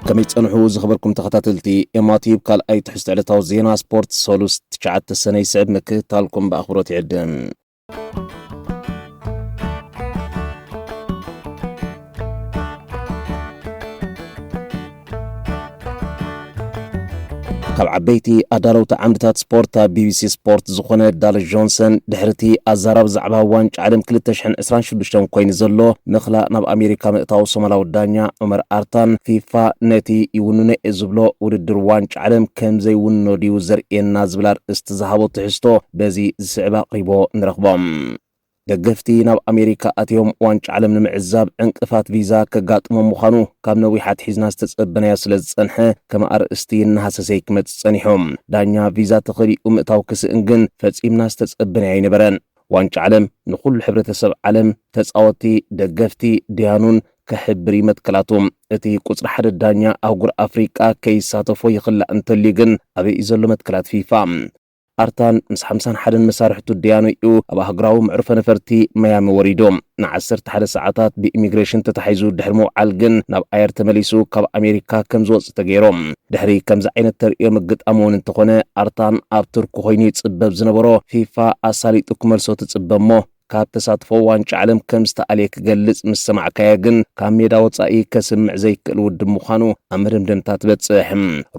ከመይ ጸንሑ ዝኸበርኩም ተኸታተልቲ ኤማቲብ ካልኣይ ትሕዝቶ ዕለታዊ ዜና ስፖርት ሰሉስ ትሽዓተ ሰነ ይስዕብ ምክትታልኩም ብኣኽብሮት ይዕድም። ካብ ዓበይቲ ኣዳለውቲ ዓምድታት ስፖርት ኣብ ቢቢሲ ስፖርት ዝኾነ ዳል ጆንሰን ድሕሪ እቲ ኣዛራብ ዛዕባ ዋንጫ ዓለም 226 ኮይኑ ዘሎ ምኽላእ ናብ ኣሜሪካ ምእታው ሶማላዊ ዳኛ ዑመር ኣርታን ፊፋ ነቲ ይውንኖ እየ ዝብሎ ውድድር ዋንጫ ዓለም ከምዘይውንኖ ድዩ ዘርእየና ዝብል ኣርእስቲ ዝሃቦ ትሕዝቶ በዚ ዝስዕብ ኣቕሪቦ ንረኽቦም። ደገፍቲ ናብ ኣሜሪካ ኣትዮም ዋንጫ ዓለም ንምዕዛብ ዕንቅፋት ቪዛ ከጋጥሞም ምዃኑ ካብ ነዊሕ ኣትሒዝና ዝተጸበናዮ ስለ ዝጸንሐ ከም ኣርእስቲ እናሃሰሰይ ክመጽእ ጸኒሑ። ዳኛ ቪዛ ተኸሊኡ ምእታው ክስእን ግን ፈጺምና ዝተጸበናዮ ኣይነበረን። ዋንጫ ዓለም ንኹሉ ሕብረተሰብ ዓለም፣ ተጻወቲ፣ ደገፍቲ፣ ደያኑን፣ ከሕብር እዩ መትከላቱ። እቲ ቁጽሪ ሓደ ዳኛ ኣህጉር ኣፍሪቃ ከይሳተፎ ይኽላእ እንተልዩ ግን ኣበይ እዩ ዘሎ መትከላት ፊፋ? ኣርታን ምስ ሓምሳን ሓደን መሳርሕቱ ደያኑ'ዩ ኣብ ኣህጉራዊ መዕርፎ ነፈርቲ ማያሚ ወሪዱ። ንዓሰርተ ሓደ ሰዓታት ብኢሚግሬሽን ተታሒዙ ድሕሪ ምውዓል ግን ናብ ኣየር ተመሊሱ ካብ ኣሜሪካ ከም ዝወጽእ ተገይሩ። ድሕሪ ከምዚ ዓይነት ተርእዮ ምግጣሙ'ውን እንተኾነ ኣርታን ኣብ ቱርኪ ኮይኑ ይጽበብ ዝነበሮ ፊፋ ኣሳሊጡ ክመልሶ ትጽበ እሞ ካብ ተሳትፎ ዋንጫ ዓለም ከም ዝተኣልየ ክገልጽ ምስ ሰማዕካዮ ግን ካብ ሜዳ ወጻኢ ከስምዕ ዘይክእል ውድብ ምዃኑ ኣብ መደምደምታ ትበጽሕ።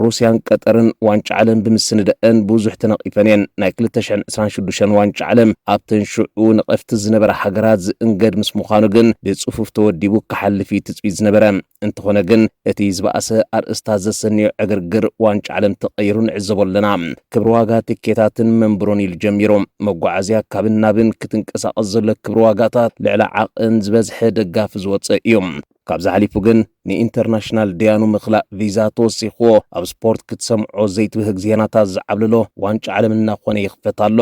ሩስያን ቀጠርን ዋንጫ ዓለም ብምስንደእን ብዙሕ ተነቒፈን እየን። ናይ ክልተ ሽሕን ዕስራን ሽዱሽተን ዋንጫ ዓለም ኣብተን ሽዑ ነቐፍቲ ዝነበራ ሃገራት ዝእንገድ ምስ ምዃኑ ግን ብጽፉፍ ተወዲቡ ክሓልፍ እዩ ትጽቢት ዝነበረ። እንተኾነ ግን እቲ ዝበኣሰ ኣርእስታት ዘሰንዮ ዕግርግር ዋንጫ ዓለም ተቐይሩ ንዕዘቦ ኣለና። ክብሪ ዋጋ ትኬታትን መንብሮን ኢሉ ጀሚሩ መጓዓዝያ ካብን ናብን ክትንቀሳቐስ ዘሎ ክብሪ ዋጋታት ልዕሊ ዓቕን ዝበዝሐ ደጋፊ ዝወፀ እዩ። ካብዚ ሓሊፉ ግን ንኢንተርናሽናል ደያኑ ምኽላእ ቪዛ ተወሲኽዎ ኣብ ስፖርት ክትሰምዖ ዘይትብህግ ዜናታት ዝዓብልሎ ዋንጫ ዓለም እናኾነ ይኽፈት ኣሎ።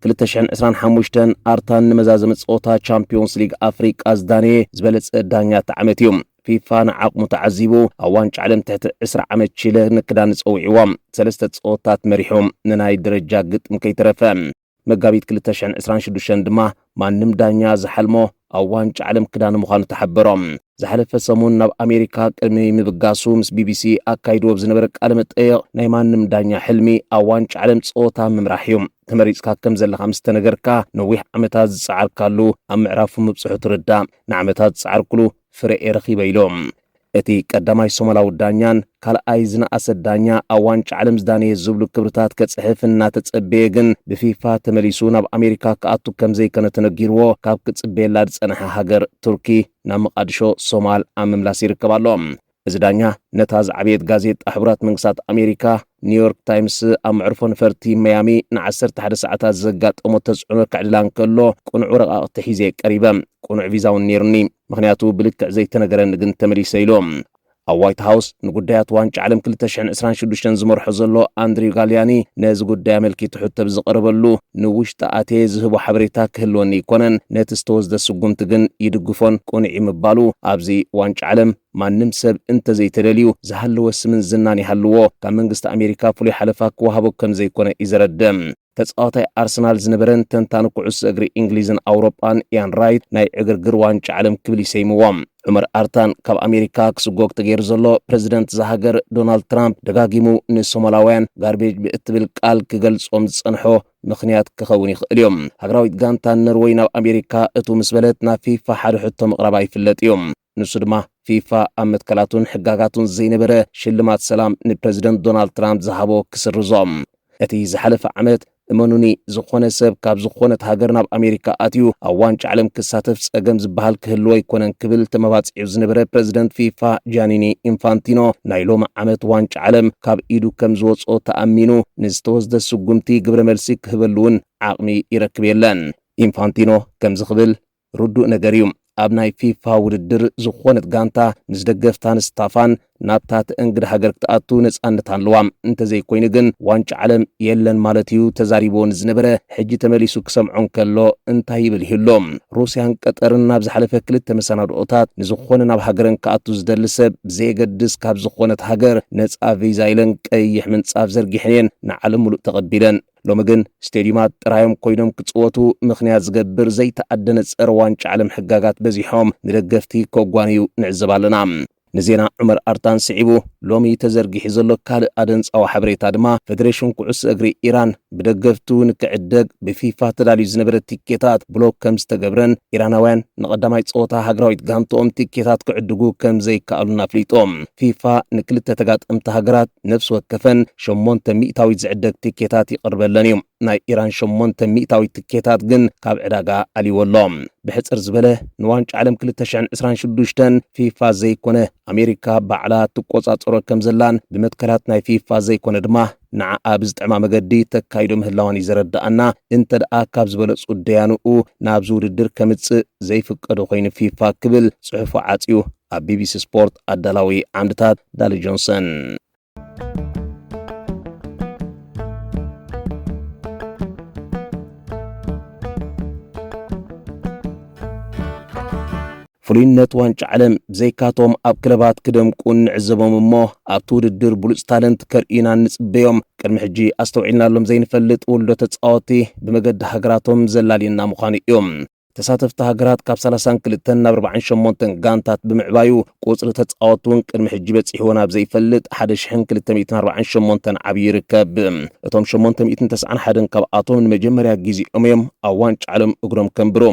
ክልተ ሽሕን ዕስራን ሓሙሽተን ኣርታን ንመዛዘሚ ጸወታ ቻምፕዮንስ ሊግ ኣፍሪቃ ዝዳነየ ዝበለጸ ዳኛ እቲ ዓመት እዩ። ፊፋ ንዓቕሙ ተዓዚቡ ኣብ ዋንጫ ዓለም ትሕቲ ዕስራ ዓመት ቺለ ንክዳኒ ጸዊዕዎ ሰለስተ ጸወታት መሪሑ ንናይ ደረጃ ግጥም ከይተረፈ። መጋቢት ክልተ ሽሕን ዕስራን ሽዱሽተን ድማ ማንም ዳኛ ዝሓልሞ ኣብ ዋንጫ ዓለም ክዳኒ ምዃኑ ተሓበሮ። ዝሓለፈ ሰሙን ናብ ኣሜሪካ ቅድሚ ምብጋሱ ምስ ቢቢሲ ኣካይዱ ኣብ ዝነበረ ቃለ መጠየቕ ናይ ማንም ዳኛ ሕልሚ ኣብ ዋንጫ ዓለም ፀወታ ምምራሕ እዩ። ተመሪፅካ ከም ዘለኻ ምስ ተነገርካ ነዊሕ ዓመታት ዝፀዓርካሉ ኣብ ምዕራፉ ምብፅሑ ትርዳእ። ንዓመታት ዝፀዓርኩሉ ፍረ'የ ረኺበ ኢሉ። እቲ ቀዳማይ ሶማላዊ ዳኛን ካልኣይ ዝነኣሰ ዳኛ ኣብ ዋንጫ ዓለም ዝዳነየ ዝብሉ ክብርታት ከፅሕፍ እናተፀበየ ግን ብፊፋ ተመሊሱ ናብ ኣሜሪካ ክኣቱ ከም ዘይከነ ተነጊርዎ ካብ ክፅበየላ ዝፀንሐ ሃገር ቱርኪ ናብ መቓድሾ ሶማል ኣብ ምምላስ ይርከብ ኣሎ። እዚ ዳኛ ነታ ዝዓበየት ጋዜጣ ሕቡራት መንግስታት ኣሜሪካ ኒውዮርክ ታይምስ ኣብ መዕርፎ ነፈርቲ መያሚ ን11 ሰዓታት ዘጋጠሞ ተጽዕኖ ከዕልላ እንከሎ ቅኑዕ ወረቓቕቲ ሒዘ ቀሪበ፣ ቅኑዕ ቪዛ እውን ነይሩኒ፣ ምኽንያቱ ብልክዕ ዘይተነገረኒ ግን ተመሊሰ ኢሉ። ኣብ ዋይት ሃውስ ንጉዳያት ዋንጫ ዓለም ክልተ ሽሕን ዕስራን ሽዱሽተን ዝመርሖ ዘሎ ኣንድሪው ጋልያኒ ነዚ ጉዳይ ኣመልኪቱ ሕቶ ብዝቐረበሉ ንውሽጢ ኣትየ ዝህቦ ሓበሬታ ክህልወኒ ኣይኮነን፣ ነቲ ዝተወስደ ስጉምቲ ግን ይድግፎን ቅኑዕ'ዩ ምባሉ ኣብዚ ዋንጫ ዓለም ማንም ሰብ እንተዘይተደልዩ ዝሃለወ ስምን ዝናን ይሃልዎ ካብ መንግስቲ ኣሜሪካ ፍሉይ ሓለፋ ክወሃቦ ከምዘይኮነ እዩ ዘረድእ። ተጻዋታይ ኣርሰናል ዝነበረን ተንታኒ ኩዕሶ እግሪ እንግሊዝን ኣውሮጳን ኢያን ራይት ናይ ዕግርግር ዋንጫ ዓለም ክብል ይሰይምዎ። ዑመር ኣርታን ካብ ኣሜሪካ ክስጎግ ተገይሩ ዘሎ ፕረዚደንት እዛ ሃገር ዶናልድ ትራምፕ ደጋጊሙ ንሶማላውያን ጋርቤጅ ብእትብል ቃል ክገልጾም ዝጸንሖ ምኽንያት ክኸውን ይኽእል እዩ። ሃገራዊት ጋንታ ኖርወይ ናብ ኣሜሪካ እቱ ምስ በለት ናብ ፊፋ ሓደ ሕቶ ምቕራባ ይፍለጥ እዩ። ንሱ ድማ ፊፋ ኣብ መትከላቱን ሕጋጋቱን ዘይነበረ ሽልማት ሰላም ንፕረዚደንት ዶናልድ ትራምፕ ዝሃቦ ክስርዞ። እቲ ዝሓለፈ ዓመት እመኑኒ ዝኾነ ሰብ ካብ ዝኾነት ሃገር ናብ ኣሜሪካ ኣትዩ ኣብ ዋንጫ ዓለም ክሳተፍ ጸገም ዝበሃል ክህልዎ ኣይኮነን ክብል ተመባጺዑ ዝነበረ ፕረዚደንት ፊፋ ጃኒኒ ኢንፋንቲኖ ናይ ሎሚ ዓመት ዋንጫ ዓለም ካብ ኢዱ ከም ዝወጽኦ ተኣሚኑ ንዝተወስደ ስጉምቲ ግብረ መልሲ ክህበሉ እውን ዓቕሚ ይረክብ የለን። ኢንፋንቲኖ ከምዚ ክብል ርዱእ ነገር እዩ ኣብ ናይ ፊፋ ውድድር ዝኾነት ጋንታ ምስ ደገፍታን ስታፋን ናብታ ተእንግድ ሃገር ክትኣቱ ነጻነት ኣለዋ እንተዘይኮይኑ ግን ዋንጫ ዓለም የለን ማለት እዩ ተዛሪብዎ ንዝነበረ ሕጂ ተመሊሱ ክሰምዖ እንከሎ እንታይ ይብል ይህሎ ሩስያን ቀጠርን ናብ ዝሓለፈ ክልተ መሰናድኦታት ንዝኾነ ናብ ሃገረን ክኣቱ ዝደሊ ሰብ ብዘየገድስ ካብ ዝኾነት ሃገር ነጻ ቪዛ ኢለን ቀይሕ ምንጻፍ ዘርጊሐን እየን ንዓለም ምሉእ ተቐቢለን ሎሚ ግን ስቴድዩማት ጥራዮም ኮይኖም ክጽወቱ ምኽንያት ዝገብር ዘይተኣደነ ጸረ ዋንጫ ዓለም ሕጋጋት በዚሖም ንደገፍቲ ከጓንዩ ንዕዘብ ኣለና። ንዜና ዑመር ኣርታን ስዒቡ ሎሚ ተዘርጊሑ ዘሎ ካልእ ኣደንጻዊ ሓበሬታ ድማ ፈደሬሽን ኩዕሶ እግሪ ኢራን ብደገፍቱ ንክዕደግ ብፊፋ ተዳልዩ ዝነበረ ቲኬታት ብሎክ ከም ዝተገብረን ኢራናውያን ንቐዳማይ ጸወታ ሃገራዊት ጋንትኦም ቲኬታት ክዕድጉ ከም ዘይከኣሉን ኣፍሊጡ። ፊፋ ንክልተ ተጋጠምቲ ሃገራት ነፍሲ ወከፈን ሸሞንተ ሚእታዊት ዝዕደግ ትኬታት ይቕርበለን እዩ። ናይ ኢራን ሸሞንተ ሚእታዊት ትኬታት ግን ካብ ዕዳጋ ኣልይዎ ኣሎ። ብሕጽር ዝበለ ንዋንጫ ዓለም ክልተ ሽሕን ዕስራን ሽዱሽተን ፊፋ ዘይኮነ ኣሜሪካ ባዕላ ትቆጻጸሮ ከም ዘላን ብመትከላት ናይ ፊፋ ዘይኮነ ድማ ንዓኣ ብዝጥዕማ መገዲ ተካይዶ ምህላዋን እዩ ዘረድኣና። እንተድኣ ካብ ዝበለጹ ደያኑኡ ናብዚ ውድድር ከምጽእ ዘይፍቀዶ ኮይኑ ፊፋ ክብል ጽሑፉ ዓጽዩ ኣብ ቢቢሲ ስፖርት ኣዳላዊ ዓምድታት ዳሊ ጆንሰን። ፍሉይነት ዋንጫ ዓለም ብዘይካቶም ኣብ ክለባት ክደምቁ እንዕዘቦም እሞ ኣብቲ ውድድር ብሉፅ ታለንት ከርእዩና እንፅበዮም ቅድሚ ሕጂ ኣስተውዒልናሎም ዘይንፈልጥ ውልዶ ተፃወቲ ብመገዲ ሃገራቶም ዘላልዩና ምዃኑ እዮም። ተሳተፍቲ ሃገራት ካብ ሰላሳን ክልተን ናብ ኣርባዓን ሸሞንተን ጋንታት ብምዕባዩ ቁጽሪ ተጻወቲ እውን ቅድሚ ሕጂ በጺሕዎ ናብ ዘይፈልጥ ሓደ ሽሕን ክልተ ሚእትን ኣርባዓን ሸሞንተን ዓብዩ ይርከብ። እቶም ሸሞንተ ሚእትን ተስዓን ሓደን ካብኣቶም ንመጀመርያ ግዜኦም እዮም ኣብ ዋንጫ ዓለም እግሮም ከንብሩ።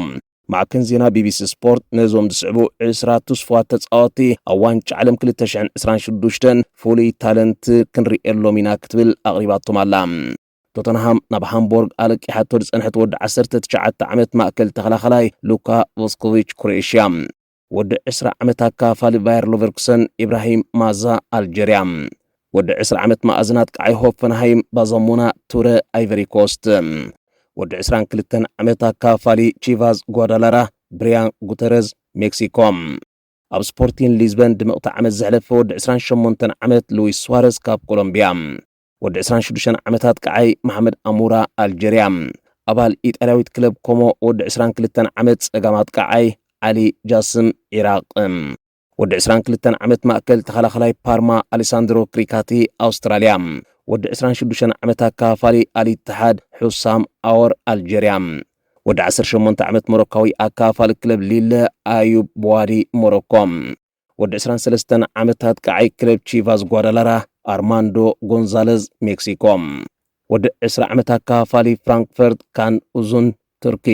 ማዕከን ዜና ቢቢሲ ስፖርት ነዞም ዝስዕቡ ዕስራ ትስፉዋት ተጻወቲ ኣብ ዋንጫ ዓለም ክልተ ሽሕን ዕስራን ሽዱሽተን ፍሉይ ታለንት ክንርእየሎም ኢና ክትብል ኣቕሪባቶም ኣላ። ቶተንሃም ናብ ሃምቦርግ ኣለቂሓቶ ዝጸንሐት ወዲ ዓሰርተ ትሽዓተ ዓመት ማእከል ተኸላኸላይ ሉካ ቮስኮቪች ክሮኤሽያ። ወዲ ዕስራ ዓመት ኣካፋሊ ቫየር ሎቨርኩሰን ኢብራሂም ማዛ ኣልጀርያ። ወዲ ዕስራ ዓመት መኣዝን ኣጥቃዓይ ሆፈንሃይም ባዛሞና ቱረ ኣይቨሪኮስት። ወዲ ዕስራን ክልተን ዓመት ኣካፋሊ ቺቫዝ ጓዳላራ ብሪያን ጉተረዝ ሜክሲኮ። ኣብ ስፖርቲን ሊዝበን ድምቕቲ ዓመት ዘሕለፈ ወዲ ዕስራን ሸሞንተን ዓመት ሉዊስ ስዋረዝ ካብ ኮሎምቢያ። ወዲ 26 ዓመታት ቀዓይ መሓመድ ኣሙራ ኣልጀርያ ኣባል ኢጣልያዊት ክለብ ኮሞ ወዲ 22 ዓመት ጸጋም ኣጥቃዓይ ዓሊ ጃስም ዒራቕ ወዲ 22 ዓመት ማእከል ተኸላኸላይ ፓርማ ኣሌሳንድሮ ክሪካቲ ኣውስትራልያ፣ ወዲ 26 ዓመት ኣካፋሊ ኣልኢትሓድ ሑሳም ኣወር ኣልጀርያ፣ ወዲ 18 ዓመት ሞሮካዊ ኣካፋሊ ክለብ ሊለ ኣዩብ በዋዲ ሞሮኮ፣ ወዲ ዕስራን ሰለስተን ዓመት ኣጥቃዓይ ክለብ ቺቫስ ጓዳላራ ኣርማንዶ ጎንዛለዝ፣ ሜክሲኮ፣ ወዲ ዕስራ ዓመት ኣከፋፋሊ ፍራንክፈርት ካን ኡዙን፣ ቱርኪ፣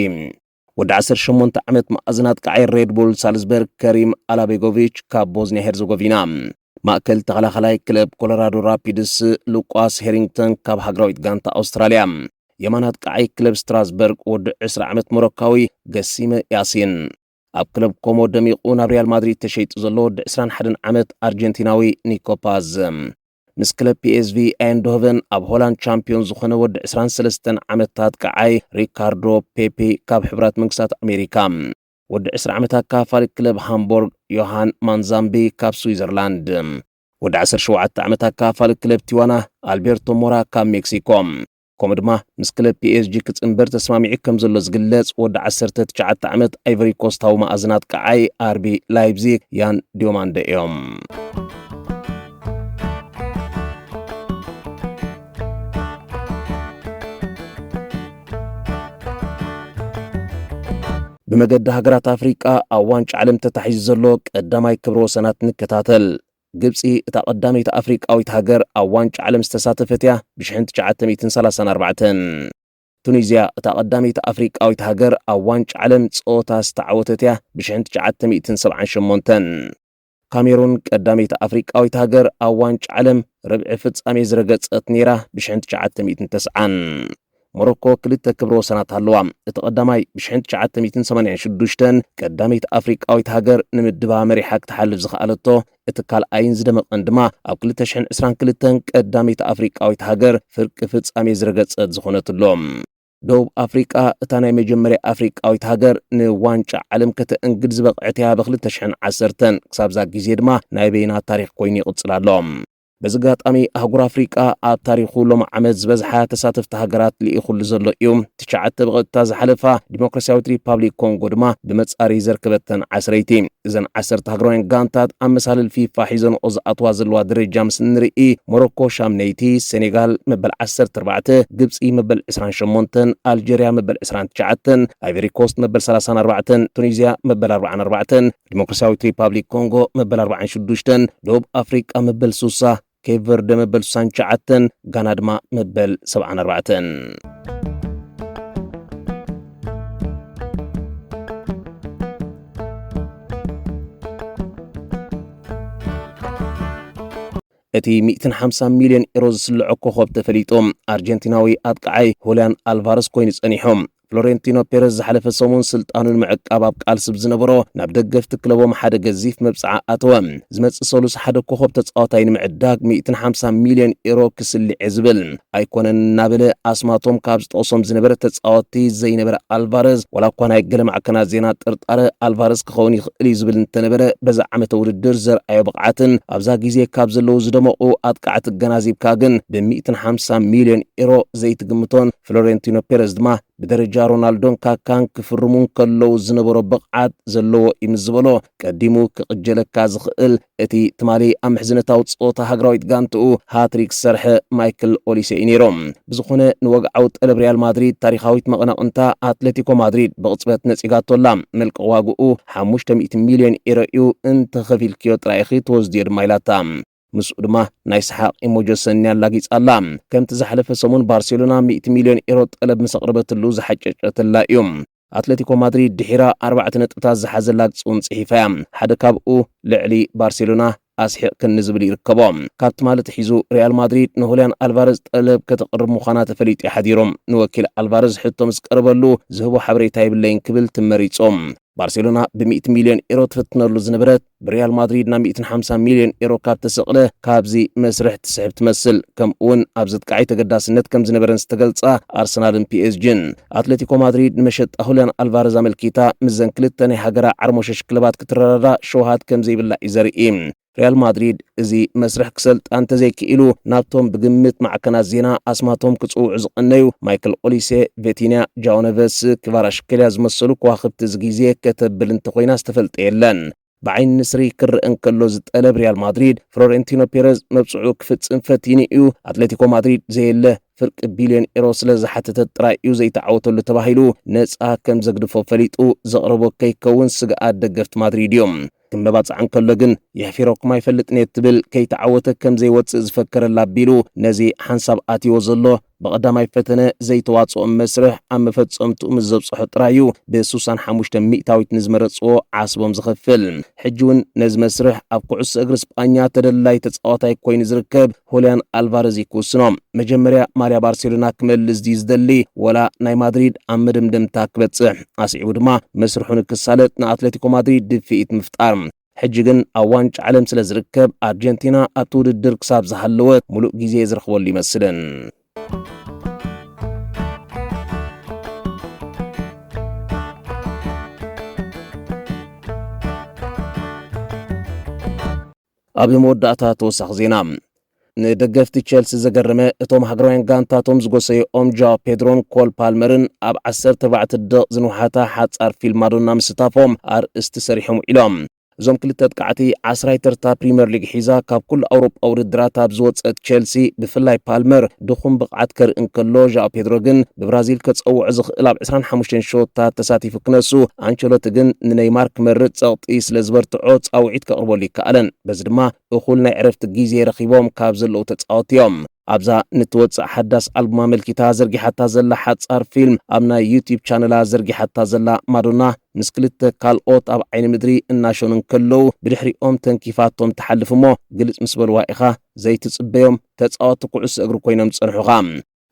ወዲ ዓሰርተ ሸሞንተ ዓመት መኣዝን ኣጥቃዓይ ሬድ ቡል ሳልዝበርግ ከሪም ኣላቤጎቪች ካብ ቦዝኒያ ሄርዘጎቪና፣ ማእከል ተኸላኻላይ ክለብ ኮሎራዶ ራፒድስ ሉቋስ ሄሪንግተን ካብ ሃገራዊት ጋንታ ኣውስትራልያ፣ የማን ኣጥቃዓይ ክለብ ስትራስበርግ ወዲ ዕስራ ዓመት ሞሮካዊ ገሲመ ያሲን፣ ኣብ ክለብ ኮሞ ደሚቑ ናብ ሪያል ማድሪድ ተሸይጡ ዘሎ ወዲ 21 ዓመት ኣርጀንቲናዊ ኒኮ ፓዝ ምስ ክለብ ፒኤስቪ ኣይንዶሆቨን ኣብ ሆላንድ ቻምፒዮን ዝኾነ ወዲ 23 ዓመታት ቀዓይ ሪካርዶ ፔፔ ካብ ሕብራት መንግስታት ኣሜሪካ ወዲ 20 ዓመት ኣካፋሊ ክለብ ሃምቦርግ ዮሃን ማንዛምቢ ካብ ስዊዘርላንድ ወዲ 17 ዓመት ኣካፋሊ ክለብ ቲዋና ኣልቤርቶ ሞራ ካብ ሜክሲኮ ከምኡ ድማ ምስ ክለብ ፒኤስጂ ክጽንበር ተስማሚዑ ከም ዘሎ ዝግለጽ ወዲ ዓሰርተ ትሽዓተ ዓመት ኣይቨሪ ኮስታዊ መኣዝን ኣጥቃዓይ ኣርቢ ላይፕዚግ ያን ዲዮማንደ እዮም። ብመገዲ ሃገራት ኣፍሪቃ ኣብ ዋንጫ ዓለም ተታሒዙ ዘሎ ቀዳማይ ክብረ ወሰናት ንከታተል። ግብጺ እታ ቀዳመይቲ ኣፍሪቃዊት ሃገር ኣብ ዋንጫ ዓለም ዝተሳተፈት እያ ብሽሕን ትሽዓተ ሚእትን ሰላሳን ኣርባዕተን። ቱኒዝያ እታ ቀዳመይቲ ኣፍሪቃዊት ሃገር ኣብ ዋንጫ ዓለም ጸወታ ዝተዓወተት እያ ብሽሕን ትሽዓተ ሚእትን ሰብዓን ሸሞንተን። ካሜሩን ቀዳመይቲ ኣፍሪቃዊት ሃገር ኣብ ዋንጫ ዓለም ርብዒ ፍጻሜ ዝረገጸት ነይራ ብሽሕን ትሽዓተ ሚእትን ተስዓን። ሞሮኮ ክልተ ክብረ ወሰናት ኣለዋ። እቲ ቀዳማይ ብ ሽሕን ትሽዓተ ሚእትን ሰማንያን ሽዱሽተን ቀዳመይቲ ኣፍሪቃዊት ሃገር ንምድባ መሪሓ ክትሓልፍ ዝኸኣለቶ፣ እቲ ካልኣይን ዝደመቐን ድማ ኣብ ክልተ ሽሕን ዕስራን ክልተን ቀዳመይቲ ኣፍሪቃዊት ሃገር ፍርቂ ፍጻሜ ዝረገጸት ዝኾነትሉ፣ ደቡብ ኣፍሪቃ እታ ናይ መጀመርያ ኣፍሪቃዊት ሃገር ንዋንጫ ዓለም ከተእንግድ ዝበቕዐት'ያ ብ ክልተ ሽሕን ዓሰርተን። ክሳብ'ዛ ግዜ ድማ ናይ በይና ታሪኽ ኮይኑ ይቕጽል ኣሎ። በዚ ኣጋጣሚ ኣህጉር ኣፍሪቃ ኣብ ታሪኹ ሎም ዓመት ዝበዝሓ ተሳተፍቲ ሃገራት ልኢኹሉ ዘሎ እዩ። ትሽዓተ ብቐጥታ ዝሓለፋ፣ ዲሞክራስያዊት ሪፓብሊክ ኮንጎ ድማ ብመጻረዪ ዘርከበተን ዓስረይቲ። እዘን ዓሰርተ ሃገራውያን ጋንታት ኣብ መሳልል ፊፋ ሒዘንኦ ዝኣትዋ ዘለዋ ደረጃ ምስ እንርኢ፣ ሞሮኮ ሻምነይቲ፣ ሰኔጋል መበል ዓሰርተ ኣርባዕተ፣ ግብጺ መበል ዕስራን ሸሞንተን፣ ኣልጀርያ መበል ዕስራን ትሽዓተን፣ ኣይቨሪኮስት መበል ሰላሳን ኣርባዕተን፣ ቱኒዝያ መበል ኣርብዓን ኣርባዕተን፣ ዲሞክራሲያዊት ሪፓብሊክ ኮንጎ መበል ኣርባዓን ሽዱሽተን፣ ደቡብ ኣፍሪቃ መበል ሱሳ፣ ኬፕ ቨርደ መበል ሱሳን ትሽዓተን፣ ጋና ድማ መበል ሰብዓን ኣርባዕተን። እቲ 150 ሚልዮን ኤሮ ዝስልዖ ኮኸብ ተፈሊጡ ኣርጀንቲናዊ ኣጥቃዓይ ሁልያን ኣልቫረስ ኮይኑ ጸኒሑ ፍሎሬንቲኖ ፔረዝ ዝሓለፈ ሰሙን ስልጣኑ ንምዕቃብ ኣብ ቃልሲ ብዝነበሮ ናብ ደገፍቲ ክለቦም ሓደ ገዚፍ መብጽዓ ኣተወ። ዝመጽእ ሰሉስ ሓደ ኮኾብ ተጻዋታይ ንምዕዳግ ሚእትን ሓምሳን ሚልዮን ኤሮ ክስልዕ'የ ዝብል። ኣይኮነን እናበለ ኣስማቶም ካብ ዝጠቕሶም ዝነበረ ተጻወትቲ ዘይነበረ ኣልቫረዝ፣ ዋላ እኳ ናይ ገለ ማዕከናት ዜና ጥርጣረ ኣልቫረዝ ክኸውን ይኽእል'ዩ ዝብል እንተነበረ፣ በዚ ዓመተ ውድድር ዘርኣዮ ብቕዓትን ኣብዛ ግዜ ካብ ዘለዉ ዝደመቑ ኣጥቃዕቲ ኣገናዚብካ ግን ብሚእትን ሓምሳን ሚልዮን ኤሮ ዘይትግምቶን ፍሎሬንቲኖ ፔረዝ ድማ ብደረጃ ሮናልዶን ካካን ክፍርሙ እንከለዉ ዝነበሮ ብቕዓት ዘለዎ እዩ ምስ ዝበሎ ቀዲሙ ክቕጀለካ ዝኽእል እቲ ትማሊ ኣብ ምሕዝነታዊ ጸወታ ሃገራዊት ጋንትኡ ሃትሪክ ዝሰርሐ ማይክል ኦሊሴ እዩ ነይሩ። ብዝኾነ ንወግዓዊ ጠለብ ሪያል ማድሪድ ታሪኻዊት መቐናቕንታ ኣትለቲኮ ማድሪድ ብቕጽበት ነጺጋቶ ኣላ። መልቀቒ ዋግኡ ሓሙሽተ ሚእቲ ሚልዮን ኤሮ እዩ፣ እንተኸፊልክዮ ጥራይ ኢኺ ትወስድዮ ድማ ኢላታ። ምስኡ ድማ ናይ ሰሓቕ ኢሞጆ ሰኒ ኣላጊጻ ኣላ። ከምቲ ዝሓለፈ ሰሙን ባርሴሎና ሚእቲ ሚልዮን ኤሮ ጠለብ ምስ ኣቕረበትሉ ዝሓጨጨትላ እዩ። ኣትለቲኮ ማድሪድ ድሒራ ኣርባዕተ ነጥብታት ዝሓዘ ላግጺ'ውን ጽሒፋ እያ። ሓደ ካብኡ ልዕሊ ባርሴሎና ኣስሒቕክኒ ዝብል ይርከቦ። ካብ ትማሊ ኣትሒዙ ሪያል ማድሪድ ንሁልያን ኣልቫረዝ ጠለብ ከተቕርብ ምዃና ተፈሊጡ እዩ ሓዲሩ። ንወኪል ኣልቫረዝ ሕቶ ምስ ቀረበሉ ዝህቦ ሓበሬታ የብለይን ክብል ትመሪጹ። ባርሴሎና ብሚእቲ ሚልዮን ኤሮ ትፍትነሉ ዝነበረት ብሪያል ማድሪድ ናብ 150 ሚልዮን ኤሮ ካብ ተሰቕለ ካብዚ መስርሕ ትስሕብ ትመስል ከምኡውን ኣብ ዘጥቃዓይ ተገዳስነት ከም ዝነበረን ዝተገልጻ ኣርሰናልን ፒኤስጂን ኣትለቲኮ ማድሪድ ንመሸጣ ሁልያን ኣልቫረዝ ኣመልኪታ ምስዘን ክልተ ናይ ሃገራ ዓርሞሸሽ ክለባት ክትረዳዳ ሸውሃት ከም ዘይብላ እዩ ዘርኢ ሪያል ማድሪድ እዚ መስርሕ ክሰልጣ እንተዘይክኢሉ ናብቶም ብግምት ማዕከናት ዜና ኣስማቶም ክጽውዑ ዝቐነዩ ማይክል ኦሊሴ፣ ቬቲንያ፣ ጃኦ ነቨስ፣ ክቫራሽከልያ ዝመሰሉ ከዋኽብቲ እዚ ግዜ ከተብል እንተኾይና ዝተፈልጠ የለን። ብዓይኒ ንስሪ ክረኣ እንከሎ ዝጠለብ ሪያል ማድሪድ ፍሎሬንቲኖ ፔረዝ መብጽዑ ክፍጽም ፈቲኑ እዩ። ኣትሌቲኮ ማድሪድ ዘየለ ፍርቂ ቢልዮን ኤሮ ስለ ዝሓተተት ጥራይ እዩ ዘይተዓወተሉ ተባሂሉ ነጻ ከም ዘግድፎ ፈሊጡ ዘቕረቦ ከይከውን ስግኣት ደገፍቲ ማድሪድ እዩ። ክመባጻዕ እንከሎ ግን የሕፊረኩም ኣይፈልጥን'የ ትብል ከይተዓወተ ከም ዘይወጽእ ዝፈከረላ ኣቢሉ ነዚ ሓንሳብ ኣትይዎ ዘሎ ብቐዳማይ ፈተነ ዘይተዋጽኦም መስርሕ ኣብ መፈጸምትኡ ምስ ዘብጽሖ ጥራይ'ዩ ብሱሳን ሓሙሽተ ሚእታዊት ንዝመረጽዎ ዓስቦም ዝኸፍል። ሕጂ'ውን ነዚ መስርሕ ኣብ ኩዕሶ እግሪ ስጳኛ ተደላዪ ተጻዋታይ ኮይኑ ዝርከብ ሁልያን ኣልቫረዝ እዩ ክውስኖ። መጀመርያ ማልያ ባርሴሎና ክመልስ ድዩ ዝደሊ ወላ ናይ ማድሪድ ኣብ መደምደምታ ክበጽሕ፣ ኣስዒቡ ድማ መስርሑ ንክሳለጥ ንኣትለቲኮ ማድሪድ ድፍኢት ምፍጣር። ሕጂ ግን ኣብ ዋንጫ ዓለም ስለ ዝርከብ ኣርጀንቲና ኣብቲ ውድድር ክሳብ ዝሃለወት ሙሉእ ግዜ ዝረኽበሉ ይመስልን። ኣብ መወዳእታ ተወሳኺ ዜና። ንደገፍቲ ቸልሲ ዘገረመ፣ እቶም ሃገራውያን ጋንታቶም ዝጎሰዩኦም ጃዋ ፔድሮን ኮል ፓልመርን ኣብ ዓሰርተ ኣርባዕተ ደቒቕ ዝንውሓታ ሓጻር ፊልም ማዶና ምስታፎም ኣርእስቲ ሰሪሖም ውዒሎም። እዞም ክልተ ኣጥቃዕቲ፣ ዓስራይ ተርታ ፕሪመር ሊግ ሒዛ ካብ ኩሉ ኣውሮጳዊ ውድድራት ኣብ ዝወጸት ቸልሲ ብፍላይ ፓልመር፣ ድኹም ብቕዓት ከርኢ እንከሎ ዣኦ ፔድሮ ግን ብብራዚል ከጸውዖ ዝኽእል ኣብ ዕስራን ሓሙሽተን ሸወታት ተሳቲፉ ክነሱ፣ ኣንቸሎቲ ግን ንነይማር ክመርጽ ጸቕጢ ስለ ዝበርትዖ ጻውዒት ከቕርበሉ ኣይከኣለን። በዚ ድማ እኹል ናይ ዕረፍቲ ግዜ ረኺቦም ካብ ዘለዉ ተጻወቲ እዮም። ኣብዛ ንትወጽእ ሓዳስ ኣልቡማ ኣመልኪታ ዘርጊሓታ ዘላ ሓጻር ፊልም ኣብ ናይ ዩትዩብ ቻነላ ዘርጊሓታ ዘላ ማዶና ምስ ክልተ ካልኦት ኣብ ዓይኒ ምድሪ እናሸኑ እንከለዉ ብድሕሪኦም ተንኪፋቶም ትሓልፍ እሞ ግልጽ ምስ በልዋ ኢኻ ዘይትጽበዮም ተጻወቲ ኩዕሶ እግሪ ኮይኖም ዝጸንሑኻ።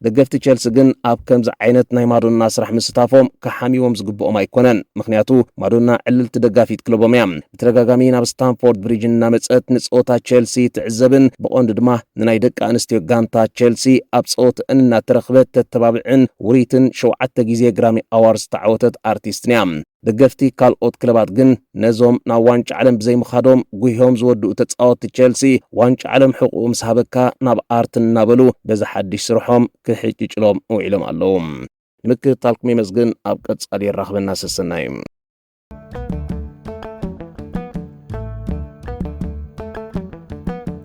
ደገፍቲ ቸልሲ ግን ኣብ ከምዚ ዓይነት ናይ ማዶና ስራሕ ምስታፎም ክሓምይዎም ዝግብኦም ኣይኮነን፣ ምኽንያቱ ማዶና ዕልልቲ ደጋፊት ክለቦም እያ። ብተደጋጋሚ ናብ ስታንፎርድ ብሪጅ እናመጸት ንጸወታ ቸልሲ ትዕዘብን ብቐንዱ ድማ ንናይ ደቂ ኣንስትዮ ጋንታ ቸልሲ ኣብ ጸወተኣን እናተረኽበት ተተባብዕን ውርይትን ሸውዓተ ግዜ ግራሚ ኣዋርድ ዝተዓወተት ኣርቲስትን እያ። ደገፍቲ ካልኦት ክለባት ግን ነዞም ናብ ዋንጫ ዓለም ብዘይምኻዶም ጉሂዮም ዝወድኡ ተጻወትቲ ቼልሲ ዋንጫ ዓለም ሕቑኡ ምስ ሃበካ ናብ ኣርትን እናበሉ በዚ ሓድሽ ስርሖም ክሕጭጭሎም ውዒሎም ኣለዉ። ንምክትታልኩም የመስግን ኣብ ቀጻሊ የራኽበና ሰሰናዩ።